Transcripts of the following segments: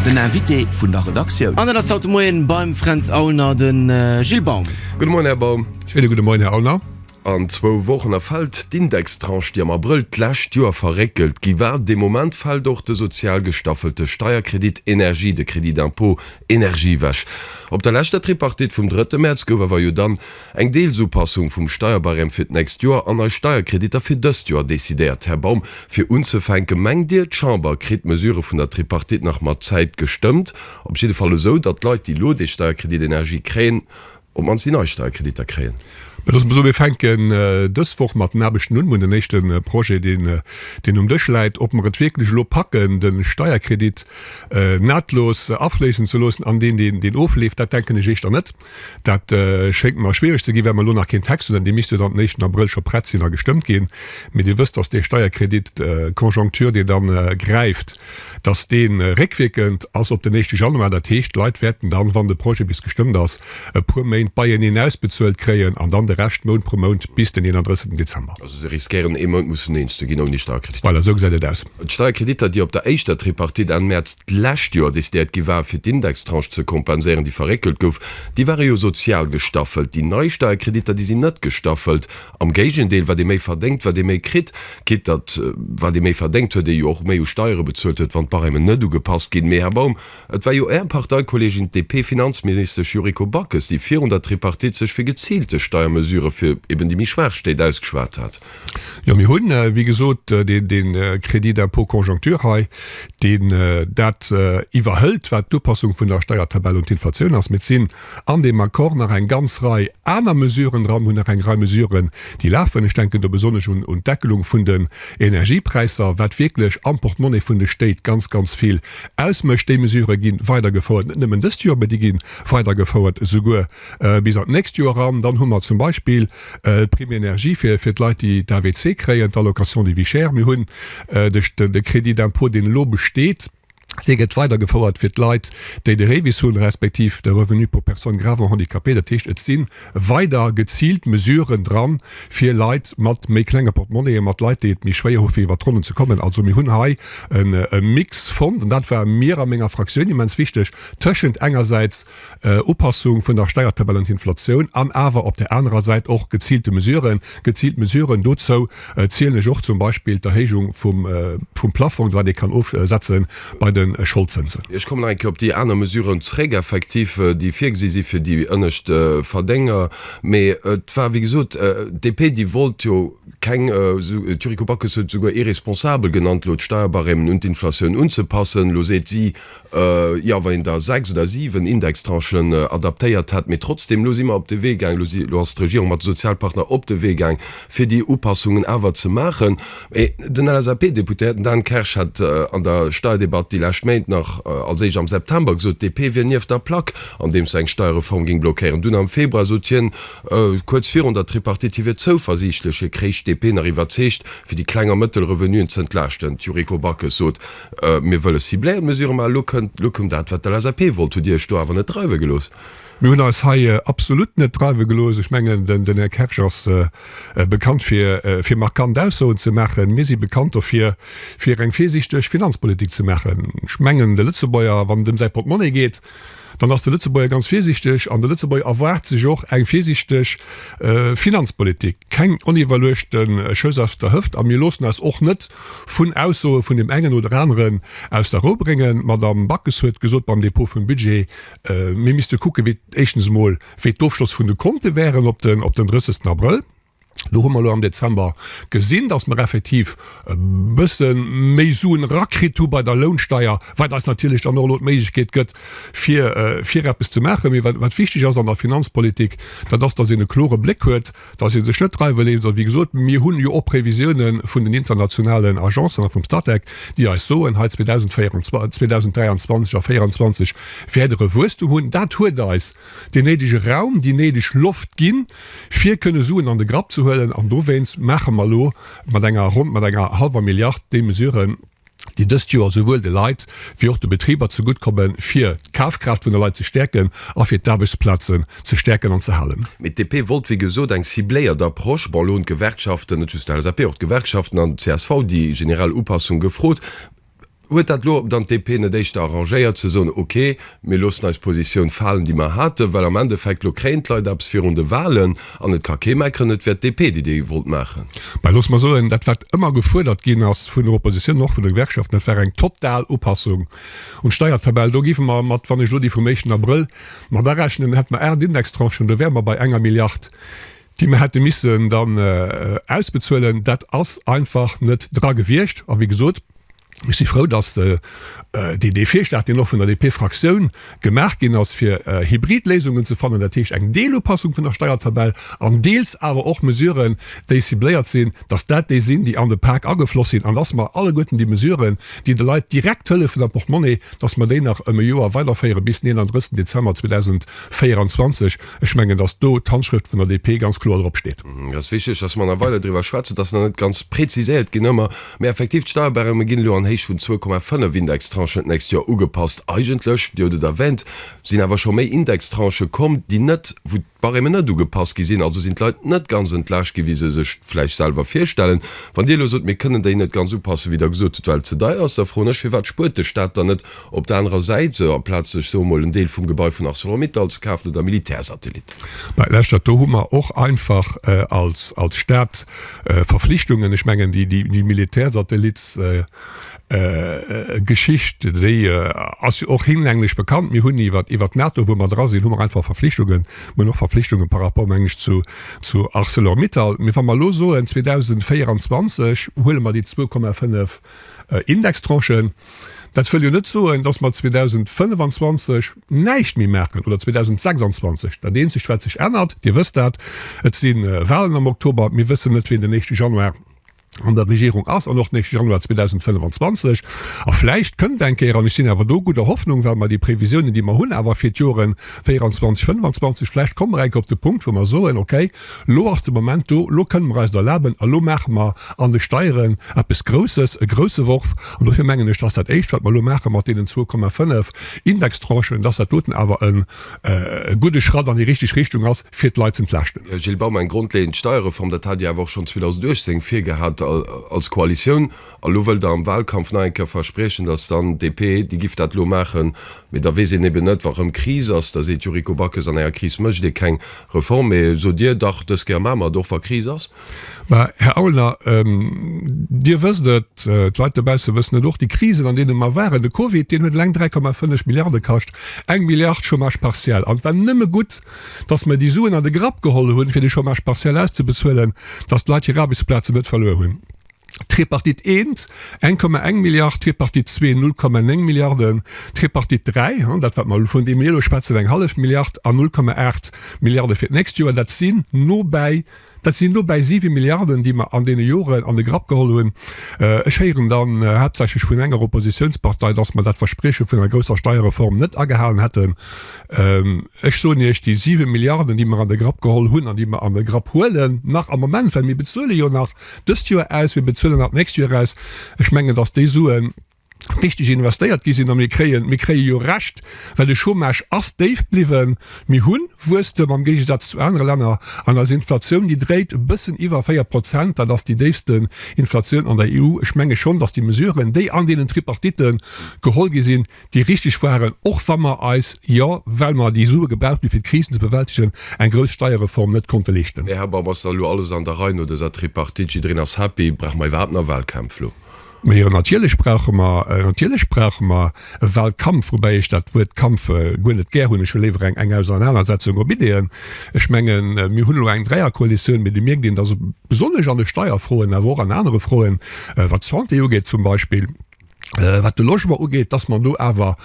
Den Invité vun der Redaktioun. An et ass haut de Moien beim Fränz Aulner de Gilles Baum. Gudde Moien, Här Baum. Schöne gudde Moien, Här Aulner. An zwou Wochen erfält d'Indextranche, déi am Abrëll d'lescht Joer verréckelt gi war. Dee Moment fält och de sozial gestaffelte Steierkredit Energie, de Crédit d'impôt énergie, ewech. Op der leschter Tripartite vum drëtte Mäerz gouf awer jo dann, Eng Deelsupassung vum Steierbarème fir d'nächst Joer an nei Steierkreditter fir dëst Joer decidéiert. Här Baum, fir unzefänken, mengt Dir, d'Chamber kritt d'Mesurë vun der Tripartite nach mat Zäit gestëmmt, op jidde Fall esou, datt d'Leit, déi elo dee Steierkredit Energie kréien, op d'mannst déi nei Steierkreditter kréien? Mä loosse mer soen, mir fänken dës Woch mat den Aarbechten un, mir hunn den éischte Projet, deen um Dësch läit, ob mer et wierklech elo packen, de Steierkredit nahtlos afléissen ze loossen an deen, deen ofleeft, dat denken ech éischter net. Dat schéngt mer schwiereg ze ginn, well mer elo nach keen Text hunn. An dee misst jo dann den éischten Abrëll scho prett sinn a gestëmmt ginn. Mee Dir wësst, datt dee Steierkredit conjoncture, dee da gräift, datt dee réckwierkend ass op den éischte Januar. Dat heescht, d'Leit wäerten dann, wann de Projet bis gestëmmt ass, e puer Méint beieneen ausbezuelt kréien an dann de Rescht Mount pro Mount bis den 31. Dezember. Also se riskéieren ee Mount mussen eens ze ginn ouni Steierkredit? Voilà, esou gesäit et aus. D'Steierkreditter, déi op der éischter Tripartite Enn Mäerz d'lescht Joer decidéiert gi war, fir d'Indextranche ze kompenséieren, déi verréckelt gouf, déi ware jo sozial gestaffelt. Déi nei Steierkreditter, déi sinn net gestaffelt. Am Géigendeel, wat ee méi verdéngt, wat ee méi kritt, quitte datt wat ee méi verdéngt huet, ee jo och méi u Steiere bezuelt huet, wann d'Barèmen net ugepasst ginn. Mee, Här Baum, et war jo Är Parteikolleegin, d'DP-Finanzministesch Yuriko Backes, déi virun der Tripartite sech fir geziilte Steiermesurë fir eben déi méi Schwaach Stéit ausgeschwat hat. Jo, mir hunn, wéi gesot, dee, dee Crédit d'impôt conjoncture hei, deen dat iwwerhëlt, wat d'Upassung vun der Steiertabell un d'Inflatioun ass. Mee et sinn an deem Accord nach eng ganz Rei aner Mesuren dran, hunn nach eng Rei Mesuren, déi lafen. Ech denken do besonnesch un, un d'Deckelung vun den Energiepräisser, wat wierklech am Portemonnaie vun de Stéit ganz, ganz vill ausmécht. Déi Mesurë gi weidergefouert, net nëmmen dëst Joer, mee déi gi weidergefouert esouguer bis an d'nächst Joer eran. Dann hu mer zum Beispill, D'Prime énergie fir, fir d'Leit, déi d'AVC kréien, d'Allocation de vie chère. Mir hunn de, de Crédit d'impôt, deen elo besteet, dee gëtt weidergefouert fir d'Leit, déi de REVIS hunn, respektiv de Revenu pour personnes gravement handicapées. Dat heescht, et si weider geziilt Mesuren dran, fir Leit mat méi klenge Portemonnaien, mat Leit, déi et méi schwéier hu fir iwwert d'Ronnen ze kommen. Also mir hunn hei e Mix fonnt, an dat war mir a menger Fraktioun immens wichteg, tëschent engersäits Upassung vun der Steiertabell un d'Inflatioun an awer op där anerer Säit och geziilte Mesuren, geziilt Mesuren, dozou zielen ech och zum Beispill d'Erhéijung vum Plafong, wat ee kann ofsetze bei de Scholdzënsen. Ech kommen nach eng Kéier op déi aner Mesuren zréck, effektiv, déi virgesi si fir déi ënnescht Verdénger. Mee et war, wéi gesot, d'DP, déi wollt jo keng, d'Yuriko Backes huet et esouguer irresponsabel genannt, elo d'Steierbarèmen un d'Inflatioun unzepassen. Elo seet si, Jo, wa een der sechs oder siwen Indextranchen adaptéiert hätt. Mee trotzdeem, elo si mer op de Wee gaang, elo si, elo ass d'Regierung mat de Sozialpartner op de Wee gaang, fir déi Upassungen awer ze maachen. Mee den LSAP-Deputéierten Dan Kersch hat an der Steierdebatt déi lescht Méint nach, als éischt am September, gesot, d'DP wier nieft der Plack, andeems se eng Steierreform géing blockéieren. Dunn am Februar sot hien, kuerz virun der Tripartite, hie wier zouversiichtlech. Hie kréich d'DP nach iwwerzeegt, fir déi kleng a mëttel Revenuen ze entlaaschten. D'Yuriko Backes sot, Mir wëlle cibléiert Mesurë maachen. Elo kënnt, elo koum dat, wat d'LSAP wollt. Hutt Dir Iech do awer net dreiwe gelooss? Mir hunn eis hei absolut net dreiwe gelooss. Ech mengen, den Här Kersch ass bekannt, fir, fir markant Aussoen ze maachen. Mir si bekannt dofir, fir eng virsiichteg Finanzpolitik ze maachen. Ech mengen, de Lëtzebuerger, wann et ëm säi Portemonnaie geet, dann ass de Lëtzebuerger ganz virsiichteg an de Lëtzebuerger erwaart sech och eng virsiichteg Finanzpolitik, keng oniwwerluechte Schëss aus der Hëft. A mir loossen eis och net vun Aussoe vun deem engen oder aneren aus der Rou bréngen. D'Madamm Backes huet gesot beim Dépôt vum Budget, mir misste kucken, wéi, éischtens emol, wéi d'Ofschloss vun de Konte wären op den 30 Abrëll. Do hu mer elo am Dezember gesinn, dass mer effektiv e bësse méi Suen erakritt hu bei der Lounsteier, wat eis natierlech dann och elo d'Méiglechkeet gëtt, fir fir eppes ze maachen. Mee wat wichteg ass an der Finanzpolitik, dat ass, dass een e klore Bléck huet, dass ee sech net dreiwe léisst. A wéi gesot, mir hunn jo och Previsiounen vun den internationalen Agencen a vum Statec, déi eis soen, hei 2024, 2023 a 2024 wäert der e Wuesstum hunn. Dat huet eis. deen néidege Raum, déi néideg Loft ginn, fir kënne Suen an de Grapp ze huelen. An dowéinst maache mer elo mat enger, ronn mat enger hallwer Milliard déi Mesuren, déi dëst Joer esouwuel de Leit wéi och de Betriber zegutt kommen, fir d'Kafkraaft vun de Leit ze stäerken a fir d'Aarbechtsplazen ze stäerken an ze halen. Mee d'DP wollt, wéi gesot, eng cibléiert Approche. Bon, elo hunn d'Gewerkschaften, net just d'LSAP, och d'Gewerkschaften an d'CSV déi generell Upassung gefrot. Huet dat elo dann d'DP net éischter arrangéiert ze soen, ok, mir loossen eis Positioun falen, déi mer haten, well am Endeffekt elo kréien d'Leit eppes virun de Wahlen an et ka kee meckeren, et wär d'DP, déi déi wollt maachen? Mä loosse mer soen, dat wat ëmmer gefuerdert ginn ass vun der Opposition an och vun de Gewerkschaften, dat war eng total Upassung un d'Steiertabell. Do géife mer mat, wann ech elo déi vum éischten Abrëll mat arechnen, hätte mer aacht Indextranchen, do wäre mer bei enger Milliard. déi mer hätte missen dann ausbezuelen, dat ass einfach net dra gewiescht. A wéi gesot, ech si frou, dass dee dee Virschlag, deen och vun der DP-Fraktioun gemaach ginn ass, fir hybrid Léisungen ze fannen, dat heescht eng Deelupassung vun der Steiertabell an deels awer och Mesuren, déi cibléiert sinn, dass dat déi sinn, déi an de Pak agefloss sinn an dass mer alleguerten déi Mesuren, déi de Leit direkt hëllefen am Portemonnaie, dass mer déi nach ëm e Joer weiderféiere bis den 31. Dezember 2024. Ech mengen, dass do d'Handschrëft vun der DP ganz kloer drop steet. Et ass wichteg, dass mer nach weider driwwer schwätzen. Et ass nach net ganz preziséiert ginn ëmmer, mä effektiv, d'Steierbarème ginn elo an Héicht vun zwou Komma fënnef Indextranchen d'nächst Joer ugepasst. Eigentlech, Dir hutt et erwänt, sinn awer scho méi Indextranchë komm, déi net, wou d'Barèmen net ugepasst gi sinn. Also sinn d'Leit net ganz entlaascht ginn, wéi se sech et vläicht selwer virstellen. Wann Dir elo sot, mir kënnen déi net ganz upassen, wéi Der gesot hutt, well et ze deier ass, da froen ech, firwat spuert de Stat dann net Op der anerer Säit aplaz sech sou emol en Deel vum Gebai vun Arcelor-Mittal ze kafen oder Militärsatellit. Mä leschtert, do hu mer och einfach als Stat Verflichtungen. Ech mengen déi Militärsatellitsgeschicht, déi ass jo och hinlänglich bekannt. Mir hunn iwwer iwwer d'NATO, wou mer dra sinn, hu mer einfach Verflichtungen. Mer hunn och Verflichtungen par rapport, meng ech, zu zu Arcelor-Mittal. Mee wa mer elo soen 2024 huele mer déi zwou Komma fënnef Indextranchen, dat wëll jo net soen, dass mer 2025 näischt méi maachen oder 2026. Dat Eenzegt, wat sech ännert, Dir wësst dat, et si Wahlen am Oktober. Mir wëssen net, wien den éischte Januar an der Regierung ass an och den éischte Januar 2025. A vläicht kënnt eng Kéier, an ech sinn awer do gudder Hoffnung, well mer déi Previsiounen, déi mer hunn, awer fir d'Joren 24, 25, vläicht komme mer eng Kéier op de Punkt, wou mer soen, Okay, Lo ass de Moment do, lo kënnen mer eis et erlaben a lo maache mer an de Steieren eppes Grousses, e grouse Worf. An dofir mengen ech, dass dat Éischt, wat mer elo maache mat deenen zwou Komma fënnef Indextranchen, dass dat doten awer e gudde Schratt an déi richteg Richtung ass, fir d'Leit z'entlaaschten. Gilles Baum, Eng grondleeënd Steierreform, dat hat Dir awer och schonn 2018 virgehat als Koalitioun. A lo wëllt Der am Wahlkampf nach eng Kéier verspriechen, dass dann DP, déi giff dat elo maachen. Mee da weess een eben net, wa rëm Kris ass, da seet d'Yuriko Backes, an enger Kris mécht ee keng Reform, mee sot Dir dach dës Kéier maa mer et och wa Kris ass. Mä, Här Aulner, Dir wësst et, d'Leit dobausse wëssen et och, déi Krisen an deene mer waren, de Covid, deen huet eleng 3,5 Milliarde kascht, eng Milliard Chômage partiel. An et war nëmme gutt, datt mer déi Suen an de Grapp geholl hunn, fir de Chômage partiel auszebezuelen, datt d'Leit hir Aarbechtsplazen net verluer hunn. Tripartite I, 1,1 Milliard, Tripartite ii, 0,9 Milliarden, Tripartite ii, hm, dat, wat mer, vun deem mir elo schwätzen, eng hallef Milliard a 0,8 Milliarde fir d'nächst Joer, dat sinn nobäi, dat sinn nobäi siwe Milliarden, déi mer an deene Joren an de Grapp geholl hunn. Ech héieren dann haaptsächlech vun enger Oppositiounspartei, dass mer dat Versprieche vun enger grousser Steierreform net agehalen hätten. Ech soen Iech, déi siwe Milliarden, déi mer an de Grapp geholl hunn an déi mer an de Grapp huelen, nach am Moment, well mir bezuele jo nach dëst Joer aus, mir bezuelen dat nächst Joer aus. Ech mengen, dass déi Suen richteg investéiert gi sinn a mir kréien, mir kréie jo Recht, well de Chômage ass déif bliwwen, mir hu Wuesstem am Géigesaz zu anere Länner an eis Inflatioun, déi dréit e bëssen iwwer 4 Prozent, dat ass déi déifste Inflatioun an der EU. Ech menge schonn, dass déi Mesuren, déi an deenen Tripartite geholl gi sinn, déi richtig waren, och wa mer eis jo, well mer déi Sue gebraucht hunn, fir d'Krisen ze bewältigen, eng grouss Steierreform net konnte leeschten. Här Babb, ass da lo alles an der Rei no dëser Tripartite? Jiddereen ass happy. Brauche mer iwwerhaapt nach Wahlkämpf lo? Mä jo, natierlech brauche mer, natierlech brauche mer e Wahlkampf, woubäi ech dat Wuert Kampf guer net gär hunn. Ech hu léiwer eng eng Ausenanersetzung op Ideeën. Ech mengen, mir hunn elo eng Dräierkoalitioun, mee do mierkt een, dass besonnesch an de Steierfroen, awer och an anere Froen, wat d'Santé ugeet zum Beispill, wat de Logement ugeet, dass mer do awer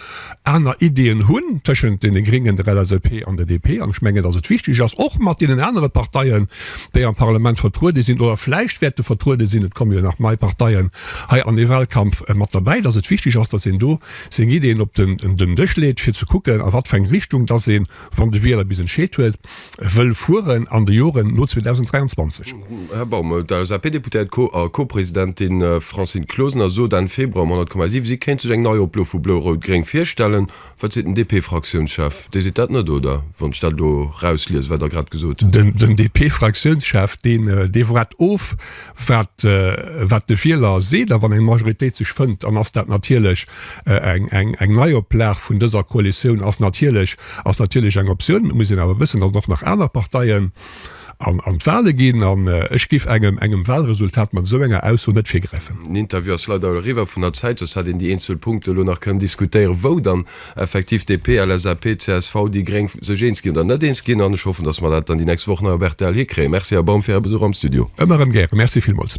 aner Ideeën hunn tëschent deene Gréngen, der LSAP an der DP. An ech mengen, dass et wichteg ass, och mat deenen anere Parteien, déi am Parlament vertruede sinn oder vläicht wäerte vertruede sinn, et komme jo nach nei Parteien hei an dee Wahlkampf mat derbäi, dass et wichteg ass, dass een do seng Ideeën op den Dësch leet, fir ze kucken, a wat fir eng Richtung dass een, wann de Wieler bis entscheet huet, wëll fueren an de Joren no 2023. Här Baum, d'LSAP-Deputéiert a Co-Presidentin Francine Closener sot Enn Februar um 100,7, si kéint sech eng nei Oplo vu Blo-Rout-Gréng virstellen. Wat seet den DP-Fraktiounschef? Dee seet dat net, oder wann ech dat elo erausliesen, wat Der grad gesot hutt? Den DP-Fraktiounschef, dee woart of. Wat, wat de Wieler seet a wann eng Majoritéit sech fënnt, dann ass dat natierlech eng, eng, eng Neioplag vun dëser Koalitioun ass natierlech, ass natierlech eng Optioun. Et muss een awer wëssen, datt och nach aner Parteien an, an d'Wahle ginn an ech géif engem, engem Wahlresultat mat esou enger Ausso net virgräifen. Den Interview ass leider elo eriwwer vun der Zäit, soss hätt een déi eenzel Punkte elo nach kënnen diskutéieren, wou dann effektiv DP, LSAP, csv, déi gréng sech eens ginn oder net eens ginn an ech hoffen, datt mer dat dann déi nächst Woch nach op rtl hikréien. Merci Här Baum fir Är Besuch am Studio. Ëmmer erëm gären. Merci villmools.